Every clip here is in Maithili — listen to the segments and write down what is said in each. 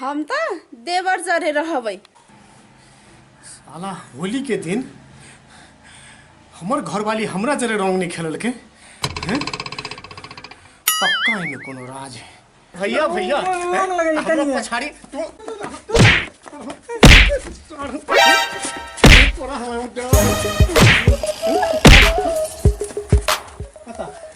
हम त देवर जरे रहबै साला होली के दिन हमर घरवाली हमरा जरे रंग नहीं खेलल के हैं? पक्का एमे कोनो राज है भैया भैया हैं? हमरा पछाड़ी तू तोरा हमरा उद्योग।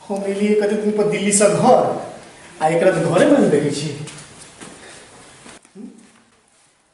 हम एलिए कते दिन पर दिल्ली से घर आ एकरा तो घरे में देखे छी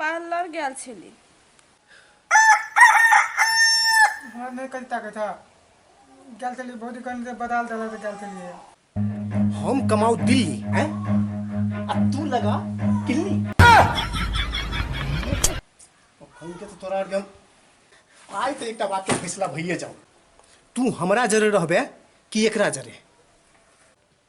पार्लर गेल छली हमरा नहि कनि ताकै था गेल छली भौजी कनि तऽ बदाल देलक तऽ गेल छलियै हम कमाऊ दिल्ली हैं आ तू लगा किल्ली हम के तो तोरा आर के हम आइ तऽ एकटा बात के फैसला भइए जाऊ तू हमरा जरे रहबे कि एकरा जरे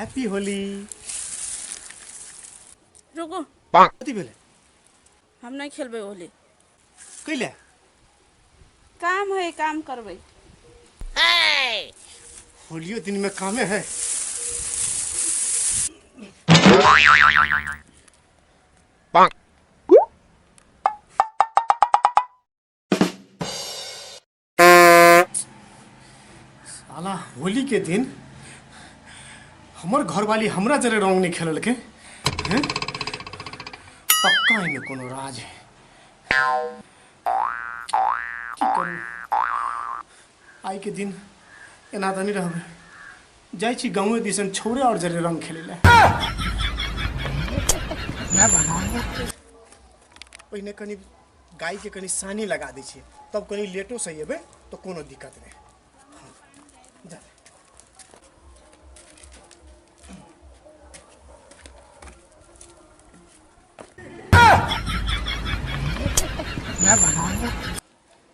हैप्पी होली रुको कथी भेलै हम नहीं खेलबे होली कैले काम है काम करबे होलियो दिन में कामे है साला होली के दिन हमर घरवाली हमरा जरे रंग नहीं खेललकै हैं पक्का एहिमे कोनो राज है की करू आइ के दिन एना तऽ नहि रहबै जाइ छी गाँवे दिसन छौरे आओर जरे रंग खेलै लए पहिने कनि गायके कनि सानी लगा दै छियै तब कनि लेटोसँ अयबै तऽ कोनो दिक्कत नहि जा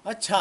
अच्छा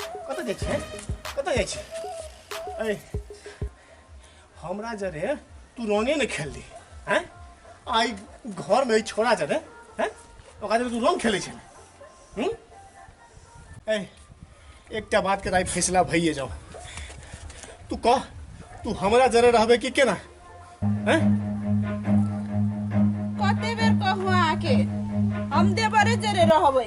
कतऽ जाइ छै कतऽ जाइ छै ऐ हमरा जरे तू रंगे ने खेल ली हैं आई घर में छोड़ा जरे हैं ओकरा जरे तू रंग खेले छै हम्म ऐ एकटा बात के दाई फैसला भइए जाओ तू कह तू हमरा जरे रहबे कि केना हैं? कते बेर कहू अहाँके हम देवरे जरे रहबै